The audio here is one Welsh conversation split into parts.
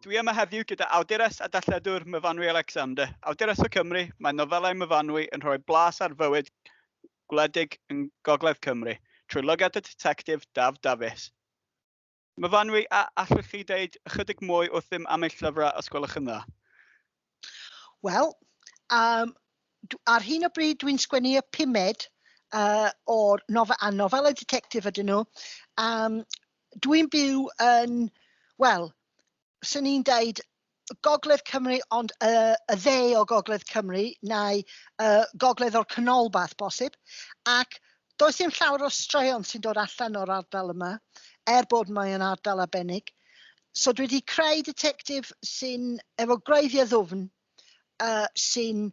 Dwi yma heddiw gyda awdures a dalledwr Myfanwy Alexander. Awdures o Cymru, mae nofelau Myfanwy yn rhoi blas ar fywyd gwledig yn Gogledd Cymru, trwy lygad y detectif Daf Dafis. Myfanwy, a allwch chi ddeud ychydig mwy wrthym am eich llyfrau os gwelwch yn dda? Wel, um, ar hyn o bryd dwi'n sgwennu y pumed uh, o'r nofel, a nofel y detectif ydyn nhw. Um, dwi'n byw yn, wel, swn i'n deud Gogledd Cymru ond y, y dde o Gogledd Cymru neu y Gogledd o'r Canolbarth bosib ac does dim llawer o straeon sy'n dod allan o'r ardal yma er bod mae'n ardal arbennig. So dwi wedi creu detectif sy'n efo gwreiddiau ddwfn uh, sy'n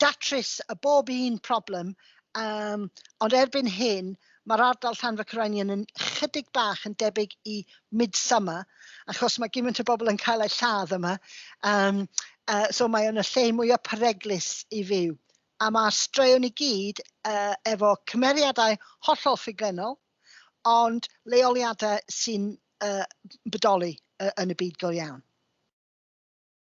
datrys y bob un problem, um, ond erbyn hyn mae'r ardal llan fy Cyrainian yn chydig bach yn debyg i midsummer, achos mae gymaint o bobl yn cael eu lladd yma, um, uh, so mae o'n y lle mwyaf pereglus i fyw. A mae straeon i gyd uh, efo cymeriadau hollol ffuglenol, ond leoliadau sy'n uh, bodoli uh, yn y byd go iawn.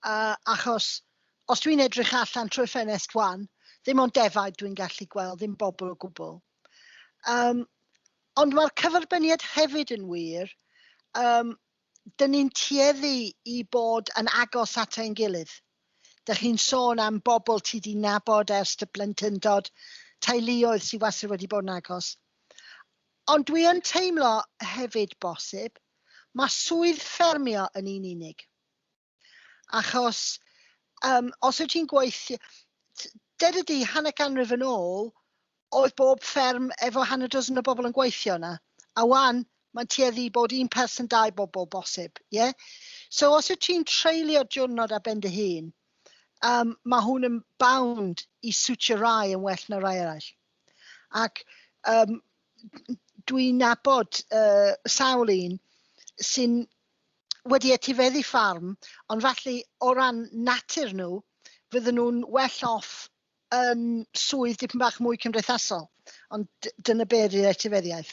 Uh, achos, os dwi'n edrych allan trwy ffenest wan, ddim ond defaid dwi'n gallu gweld, ddim bobl o gwbl. Um, ond mae'r cyferbyniad hefyd yn wir, um, dyn ni'n tueddu i bod yn agos at ein gilydd. Dych chi'n sôn am bobl ti di nabod ers dy blentyndod, teuluoedd sydd wastad wedi bod yn agos. Ond dwi yn teimlo hefyd bosib ma swydd ffermio yn un unig. Achos yym os wyt ti'n gweithio... t- deda di hanner ganrif yn ôl oedd bob fferm efo hanner dozen o bobl yn gweithio yna a wan mae'n tueddu i bod un person dau bobl bosib ie? So os wyt ti'n treulio diwrnod ar ben dy hun yym ma hwn yn bound i siwtio rai yn well na rai eraill. Ac um, dwi'n nabod uh, sawl un sy'n wedi etifeddu ffarm, ond falle o ran natur nhw, fydden nhw'n well off yn swydd dipyn bach mwy cymdeithasol. Ond dyna be ydy'r etifeddiaeth.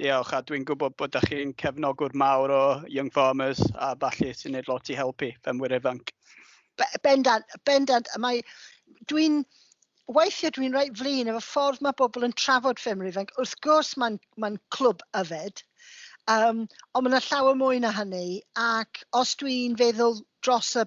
Diolch, a dwi'n gwybod bod ydych chi'n cefnogwr mawr o Young Farmers a falle sy'n gwneud lot i helpu ffermwyr ifanc. Bendant, bendant. Mae, dwi'n, weithiau dwi'n reit flin efo ffordd mae bobl yn trafod ffermwyr ifanc. Wrth gwrs mae'n ma clwb yfed, um, ond mae yna llawer mwy na hynny, ac os dwi'n feddwl dros y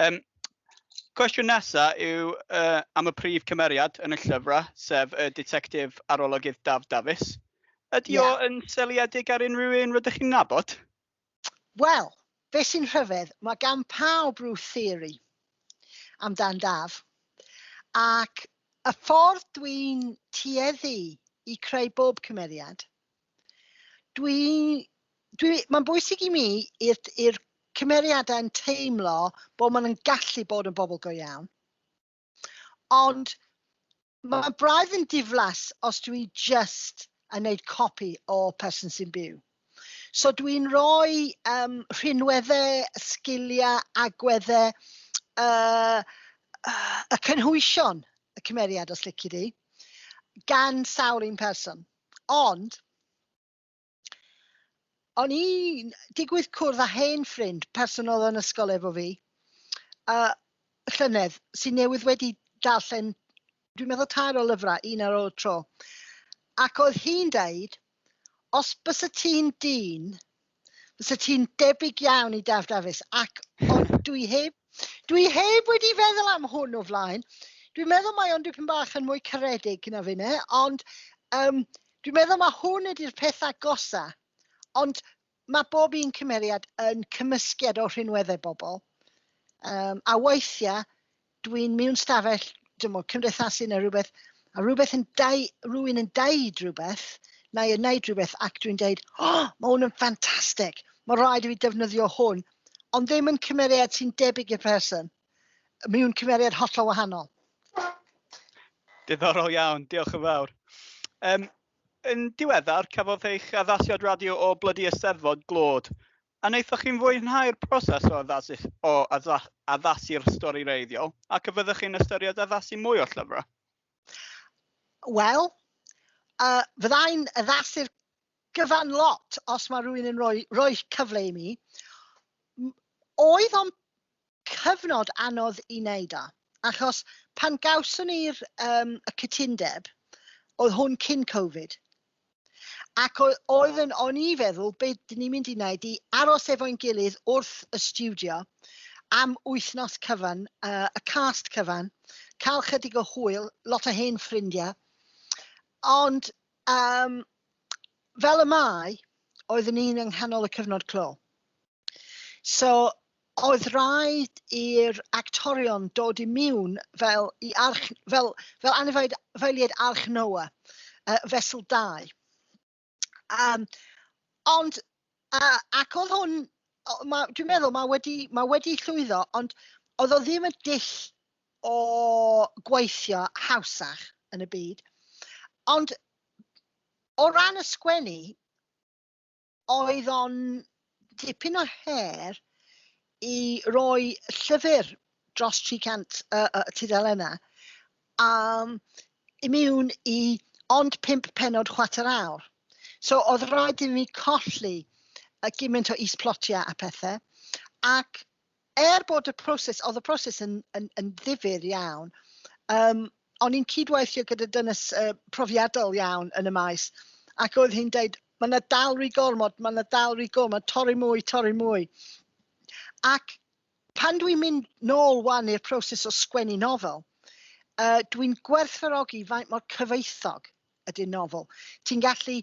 Yym cwestiwn nesa yw yy am y prif cymeriad yn y llyfrau, sef y Ditectif Arolygydd Daf Dafis. Ydy o... ie. ...yn seiliedig ar unrhyw un rydych chi'n nabod? Wel, be sy'n rhyfedd, mae gan pawb rhyw theori amdan Daf. Ac y ffordd dwi'n tueddu i creu bob cymeriad Dwi, dwi, mae'n bwysig i mi i'r cymeriadau yn teimlo bod maen nhw'n gallu bod yn bobl go iawn. Ond mae braidd yn diflas os dwi just yn neud copi o person sy'n byw. So dwi'n rhoi um, rhinweddau, sgiliau, agweddau, uh, uh, y cynhwysion y cymeriad os lici di, gan sawl un person. Ond, o'n i'n digwydd cwrdd â hen ffrind person oedd yn ysgol efo fi, a llynedd, sy'n newydd wedi darllen, dwi'n meddwl tair o lyfrau, un ar ôl y tro. Ac oedd hi'n deud, os bys y ti'n dyn, Fysa ti'n debyg iawn i Daf Dafis, ac ond dwi heb, dwi heb wedi feddwl am hwn o flaen. Dwi'n meddwl mae o'n dipyn bach yn mwy caredig na finne, ond um, dwi'n meddwl mae hwn ydy'r peth agosa. Ond mae bob un cymeriad yn cymysgiad o rhinweddau bobl. Um, a weithiau, dwi'n mewn stafell, dim ond cymdeithasu neu rhywbeth, a rhywbeth yn dau, rhywun yn daid rhywbeth, neu yn neud rhywbeth, ac dwi'n deud, o, oh, mae hwn yn ffantastig, mae rhaid i fi defnyddio hwn, ond ddim yn cymeriad sy'n debyg i'r person. Mi yw'n cymeriad hollol wahanol. Diddorol iawn, diolch yn fawr. Um, yn diweddar, cafodd eich addasiad radio o blydi Eisteddfod glod A wnaethoch chi'n fwynhau'r proses o addasu o addasu'r stori wreiddiol, ac a fyddech chi'n ystyried addasu mwy o llyfrau? Wel, uh, fyddai'n addasu'r gyfan lot os mae rhywun yn rhoi, rhoi cyfle i mi. Oedd o'n cyfnod anodd i wneud o, achos pan gawson ni'r um, y cytundeb, oedd hwn cyn Covid. Ac oedd yn, o'n i feddwl, be dyn ni'n mynd i wneud i aros efo'n gilydd wrth y studio am wythnos cyfan, uh, y cast cyfan, cael chydig o hwyl, lot o hen ffrindiau. Ond um, fel y mae, oeddwn ni'n yng nghanol y cyfnod clo. So oedd rhaid i'r actorion dod i miwn fel i arch... fel, fel anifeiliaid, anifeiliaid arch Noa, uh, fesl dau. Um, ond, uh, ac oedd hwn, ma, dwi'n meddwl, mae wedi, ma wedi llwyddo, ond oedd o ddim y dill o gweithio hawsach yn y byd. Ond o ran y sgwennu, oedd o'n dipyn o her i roi llyfr dros 300 uh, uh, tudalennau um, imiwn i ond pimp penod chwater awr. So oedd rhaid i mi colli y gymaint o is-plotiau a pethau ac Er bod y proses, oedd y proses yn, yn, yn ddifyr iawn, um, o'n i'n cydweithio gyda dynes uh, profiadol iawn yn y maes, ac oedd hi'n dweud, mae yna dal rhy gormod, mae yna dal rhy gormod, torri mwy, torri mwy. Ac pan dwi'n mynd nôl wan i'r proses o sgwennu nofel, uh, dwi'n gwerthfarogi faint mor cyfoethog ydy'r nofel. Ti'n gallu,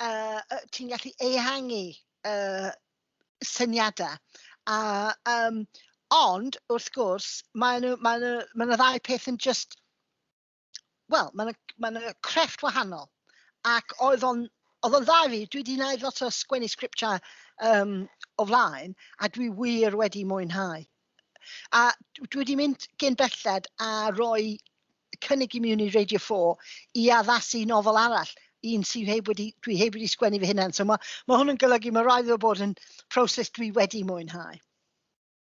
uh, ti'n gallu ehangu uh, syniadau. A, um, ond, wrth gwrs, mae yna ma ma, ma ddau peth yn just... Wel, mae yna ma, ma crefft wahanol. Ac oedd o'n oedd o'n dda fi, dwi wedi gwneud lot o sgwennu sgriptiau um, o flaen, a dwi wir wedi mwynhau. A dwi wedi mynd gen belled a roi cynnig i mi i Radio 4 i addasu nofel arall, un sydd heb wedi, dwi heb wedi sgwennu fy hunan. So mae, mae hwn yn golygu, mae rhaid o bod yn proses dwi wedi mwynhau.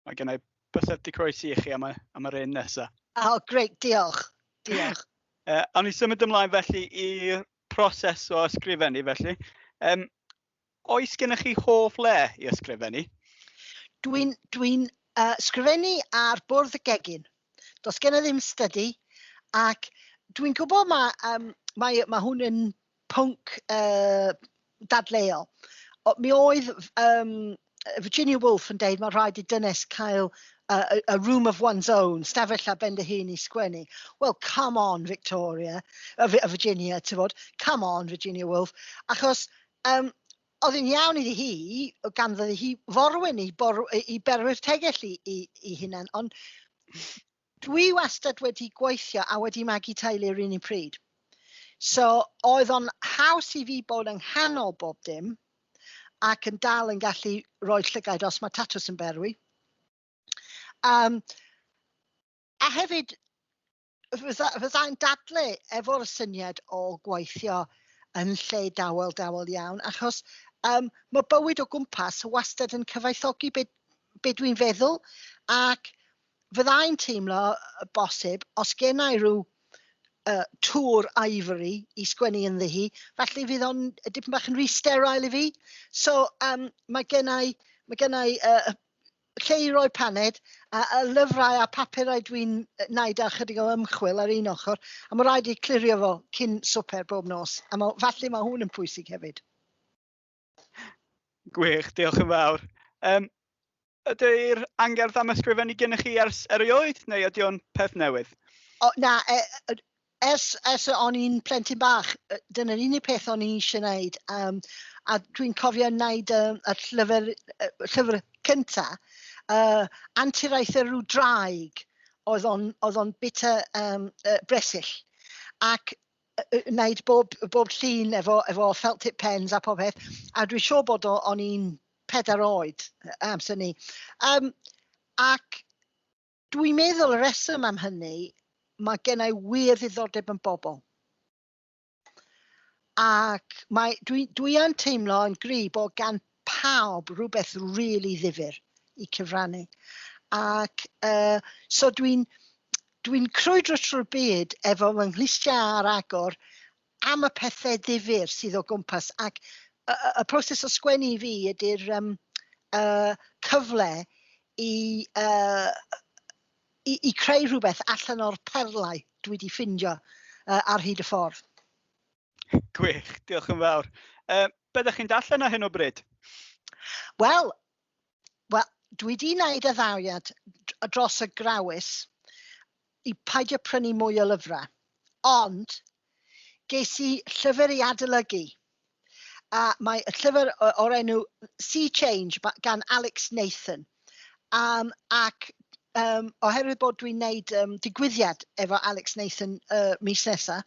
Mae gen i bysedd di croesi i chi am y, am yr un nesaf. O, oh, greit, diolch. Diolch. uh, awn ni symud ymlaen felly i'r proses o ysgrifennu felly. Um, Oes gennych chi hoff le i ysgrifennu? Dwi'n dwi uh, sgrifennu ar bwrdd y gegin. Does gen i ddim stydi, ac dwi'n gwybod mae, um, mae, mae hwn yn pwnc uh, dadleuol. O, mi oedd um, Virginia Woolf yn deud mae rhaid i dynes cael a, a, a room of one's own, stafell a ben dy hun i sgwennu. Wel, come on, Victoria, uh, Virginia, ti fod, come on, Virginia Woolf, achos um, oedd yn iawn iddi hi, gan fyddi hi forwyn i, bor, i berwyr tegell i, i, i hunan, ond Dwi wastad wedi gweithio a wedi magu teulu yr un un pryd. So, oedd o'n haws i fi bod yng nghanol bob dim ac yn dal yn gallu rhoi llygaid os mae tatws yn berwi. Um, a hefyd, fyddai'n dadle efo'r syniad o gweithio yn lle dawel, dawel iawn, achos um, mae bywyd o gwmpas wastad yn cyfaethogi beth be dwi'n feddwl, ac fyddai'n teimlo bosib os gennai rhyw uh, tŵr ivory i sgwennu yn ddihi, felly fydd o'n dipyn bach yn rhy sterile i fi. So um, mae gennau, mae gennau uh, lle i roi paned a, a lyfrau a papurau dwi'n wneud a chydig o ymchwil ar un ochr a mae rhaid i clirio fo cyn swper bob nos a mae, falle mae hwn yn pwysig hefyd. Gwych, diolch yn fawr. Um, ydy'r angerdd am ysgrifennu gennych chi ers erioed, neu ydy o'n peth newydd? O, na, e, e, ers, ers o'n i'n plentyn bach, dyna'r unig peth o'n i eisiau gwneud. Um, a dwi'n cofio wneud um, y llyfr, y llyfr cynta, uh, anturiaeth yr draig oedd o'n, oedd on bita um, uh, bresyll. Ac wneud bob, bob llun efo, efo felt tip pens a pob peth, a dwi'n siŵr bod o'n i'n pedair oed amser ni. Um, ac dwi'n meddwl y reswm am hynny, mae gennau wir ddiddordeb yn bobl. Ac mae, dwi, dwi yn teimlo yn gri bod gan pawb rhywbeth rili ddifyr i cyfrannu. Ac uh, so dwi'n dwi crwydro trwy'r byd efo fy nghlustiau ar agor am y pethau ddifyr sydd o gwmpas. Ac y, y, y proses o sgwennu i fi ydy'r um, uh, cyfle i, uh, i, i creu rhywbeth allan o'r perlau dwi wedi ffindio uh, ar hyd y ffordd. Gwych, diolch yn fawr. Uh, be ydych chi'n darllen ar hyn o bryd? Wel, well, dwi wedi gwneud y ddariad dros y grawys i paidio prynu mwy o lyfrau. Ond, ges i llyfr i adolygu. A mae y llyfr o'r enw Sea Change gan Alex Nathan. Um, ac um, oherwydd bod dwi'n gwneud um, digwyddiad efo Alex Nathan uh, mis nesaf,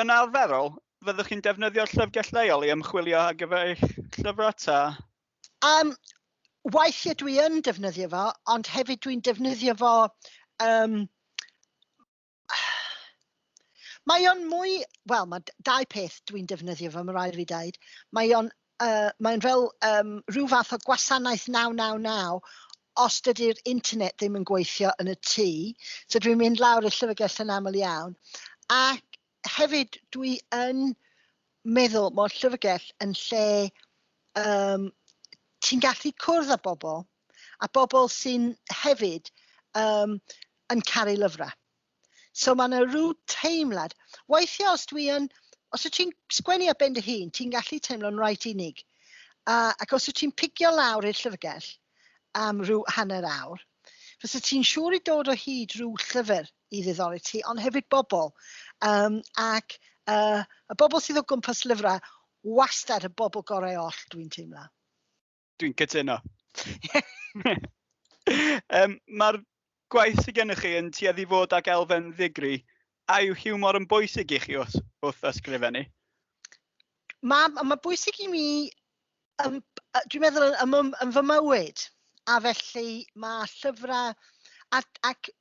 Yn arferol, fyddwch chi'n defnyddio'r llyfrgell leol i ymchwilio ar gyfer eich llyfrau ta? Um, weithiau dwi yn defnyddio fo, ond hefyd dwi'n defnyddio fo... Um, mae o'n mwy... Wel, mae dau peth dwi'n defnyddio fo, mae rhaid fi dweud. Mae o'n Yy, mae'n fel um, rhyw fath o gwasanaeth 999 os dydy'r internet ddim yn gweithio yn y tŷ. So dwi'n mynd lawr i'r llyfrgell yn aml iawn. Ac hefyd dwi yn meddwl mae'r llyfrgell yn lle um, ti'n gallu cwrdd â bobl a bobl sy'n hefyd um, yn caru lyfrau. So mae yna rhyw teimlad. Weithiau os dwi yn... Os wyt ti'n sgwennu ar ben dy hun, ti'n gallu teimlo'n reit unig. A, ac os wyt ti'n pigio lawr i'r llyfrgell am rhyw hanner awr, fysa ti'n siŵr i dod o hyd rhyw llyfr i ddiddori ti, ond hefyd bobl. Um, ac uh, y bobl sydd o gwmpas lyfrau, wastad y bobl gorau oll dwi'n teimlo. Dwi'n cytuno. um, Mae'r gwaith sydd gennych chi yn tueddu fod ag elfen ddigri. A yw hiwmor yn bwysig i chi wrth, wrth ysgrifennu? Mae ma bwysig i mi, um, dwi'n meddwl, yn, yn, yn fy mywyd. A felly mae llyfrau, ac, ac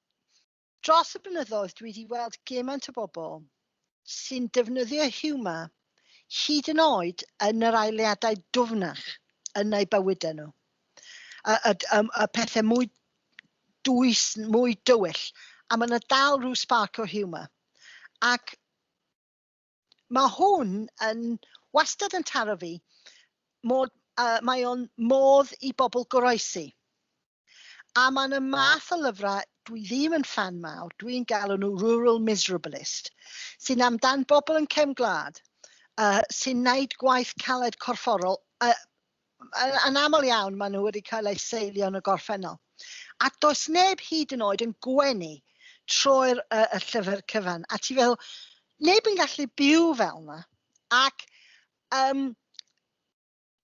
Dros y blynyddoedd dwi wedi weld gymaint o bobl sy'n defnyddio hiwmor hyd yn oed yn yr aeliadau dwfnach yn eu bywydau nhw. Y, y, y, y pethau mwy dwys, mwy dywyll, a mae yna dal rhyw spark o hiwmor. Ac Mae hwn yn wastad yn taro fi, mod, uh, mae o'n modd i bobl goroesi. A mae yna math o lyfrau dwi ddim yn fan mawr, dwi'n galw nhw rural miserabilist, sy'n amdan bobl yn cefn gwlad, uh, sy'n naid gwaith caled corfforol, uh, yn aml iawn maen nhw wedi cael eu seilio yn y gorffennol. A does neb hyd yn oed yn gwenu trwy'r uh, y llyfr cyfan. A ti fel, neb yn gallu byw fel yna. Ac um,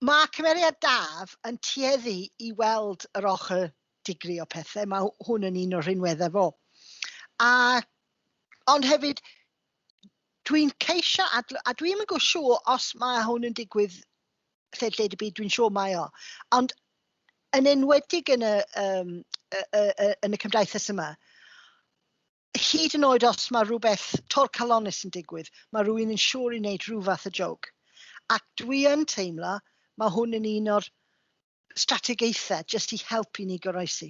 mae cymeriad Daf yn tueddu i weld yr ochr digri o pethau. Mae hwn yn un o'r rhinweddau fo. A, ond hefyd, dwi'n ceisio, a, a dwi'n mynd gwsio os mae hwn yn digwydd lled y byd, dwi'n siŵr mae o. Ond yn enwedig yn y, um, y, y, y, yn y cymdaithas yma, hyd yn oed os mae rhywbeth tor calonus yn digwydd, mae rhywun yn siŵr i wneud rhyw fath y jog. Ac dwi yn teimlo, mae hwn yn un o'r strategaethau jyst i helpu ni goroesi.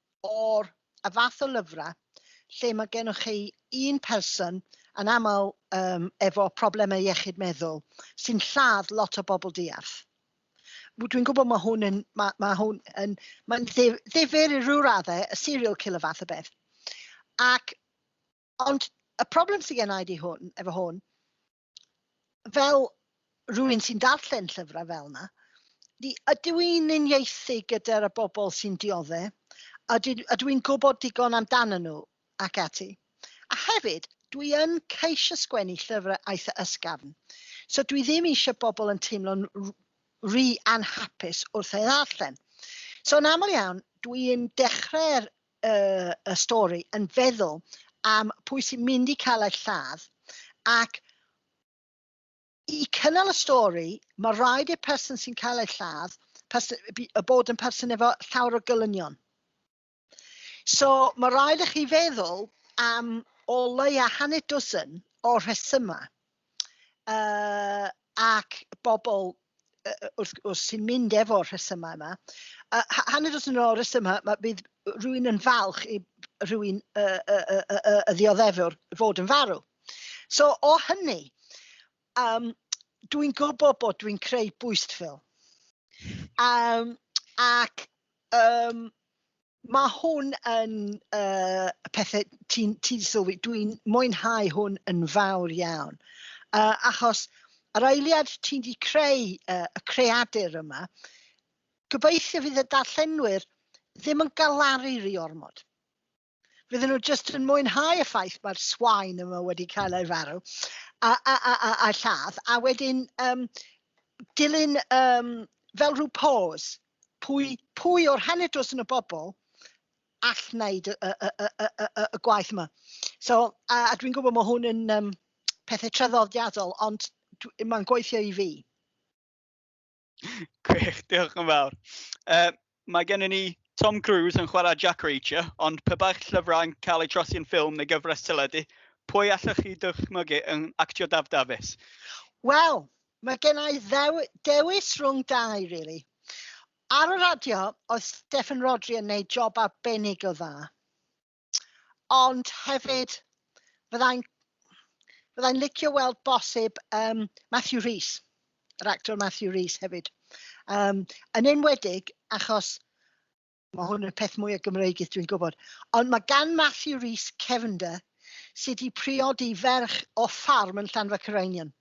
o'r y fath o lyfrau lle mae gennych chi un person, yn aml um, efo problemau iechyd meddwl, sy'n lladd lot o bobl diarth. Dwi'n gwybod mae hwn yn, mae, mae hwn yn, mae'n ddifur i rhyw raddau, y serial killer fath o beth. Ac, ond y problem sydd gen i di hwn, efo hwn, fel rhywun sy'n darllen llyfrau fel yna, ni, ydw i'n uniaethu gyda'r bobl sy'n diodde, ydw, ydw i'n gwybod digon amdano nhw ac ati. A hefyd, dwi yn ceisio sgwennu llyfrau eitha ysgafn, so dwi ddim eisiau bobl yn teimlo'n rhy anhapus wrth ei ddarllen. So yn aml iawn, dwi'n dechrau'r y, y stori yn feddwl am pwy sy'n mynd i cael ei lladd ac i cynnal y stori, mae rhaid i'r person sy'n cael ei lladd y bod yn person efo llawer o gylynion. So mae rhaid i chi feddwl am o leia hanner dwsin o rhesymau uh, ac bobl wrth gwrs sy'n mynd efo'r rhesymau yma. Uh, hanner os yn ôl rhesymau, mae bydd rhywun yn falch i rhywun y, y, y, y, y ddioddefwr fod yn farw. So o hynny, um, dwi'n gwybod bod dwi'n creu bwystfil. Um, ac um, Mae hwn yn uh, pethau ti'n ti sylwi, dwi'n mwynhau hwn yn fawr iawn. Uh, achos yr eiliad ti'n di creu uh, y creadur yma, gobeithio fydd y darllenwyr ddim yn galaru rhi ormod. Fydden nhw jyst yn mwynhau y ffaith mae'r swain yma wedi cael ei farw a, a, a, a, a lladd, a wedyn um, dilyn um, fel rhyw pause pwy, pwy o'r hanner dosen y bobl all wneud y, y, y, y, y, y gwaith yma. So, a, a dwi'n gwybod mae hwn yn um, pethau traddodiadol, ond mae'n gweithio i fi. Gwych, diolch yn fawr. Uh, mae gen i ni Tom Cruise yn chwarae Jack Reacher, ond pe baich llyfrau yn cael eu trosi yn ffilm neu gyfres teledu, pwy allwch chi dychmygu yn actio Daf Dafis? Wel, Mae gen i ddew, dewis rhwng dau, really. Ar y radio, oedd Steffan Rhodri yn neud job arbennig o dda. Ond hefyd, fyddai'n fydda licio weld bosib um, Matthew Rhys, yr actor Matthew Rhys hefyd. Um, yn enwedig achos Mae hwn yn peth mwyaf Gymreigith dwi'n gwybod. Ond mae gan Matthew Rees cefnder sydd wedi priodi ferch o ffarm yn Llanfa Cyrainion.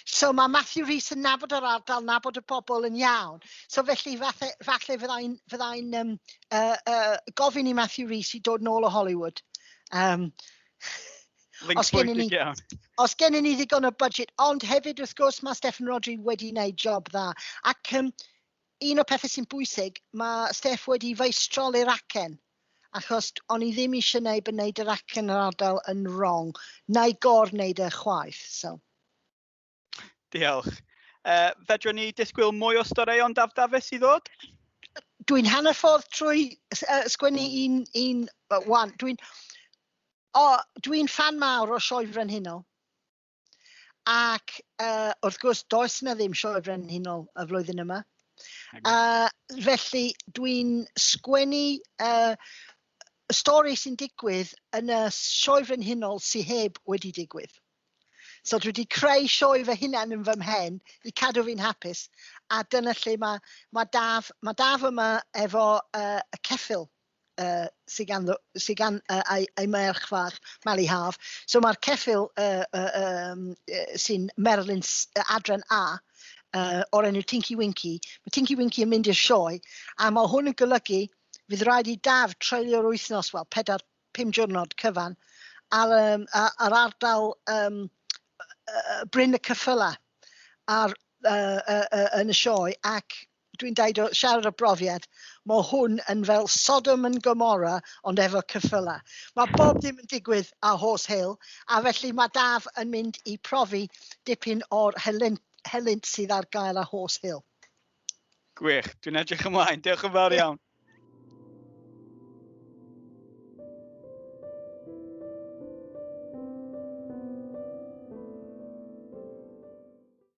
So mae Matthew Rees yn nabod yr ardal, nabod y bobl yn iawn. So felly falle, falle fyddai'n fydda um, uh, uh, gofyn i Matthew Rees i dod nôl o Hollywood. Um, os gennym ni, os gennym ni ddigon o budget, ond hefyd wrth gwrs mae Stefan Rodri wedi wneud job dda. Ac um, un o'r pethau sy'n bwysig, mae Steph wedi feistroli'r acen, achos o'n i ddim eisiau gwneud bod wneud yr acen yr ardal yn wrong, na i gor wneud e chwaith. So. Diolch. Uh, fedrwn ni disgwyl mwy o storeuon Daf Dafis i ddod? Dwi'n hanner ffordd trwy uh, sgwennu un, un uh, wan. Dwi'n oh, dwi fan mawr o Sioe Frenhinol. Ac uh, wrth gwrs, does na ddim sioe frenhinol y flwyddyn yma. Uh, felly, dwi'n sgwennu uh, stori sy'n digwydd yn y sioe frenhinol sy'n heb wedi digwydd. So dwi wedi creu sioe fy hunan yn fy mhen i cadw fi'n hapus a dyna lle mae ma Daf, ma Daf yma efo uh, y ceffil uh, sy gan, sy gan uh, ei, ei merch fach, Mali Haf. So mae'r ceffil uh, uh, um, uh, sy'n Merlin uh, Adren A, uh, o'r enw Tinky Winky. Mae Tinky Winky yn mynd i'r sioe, a mae hwn yn golygu fydd rhaid i daf treulio'r wythnos, wel, 4-5 diwrnod cyfan, ar, um, ar ardal um, uh, Bryn y Cyffyla ar, uh, uh, uh, yn y sioe ac Dwi'n deud o siarad o brofiad, mo hwn yn fel Sodom and Gomorrah ond efo cyffyla. Mae bob dim yn digwydd a horse hill, a felly mae Daf yn mynd i profi dipyn o'r helynt, helynt sydd ar gael a horse hill. Gwych, dwi'n edrych ymlaen, diolch yn fawr iawn.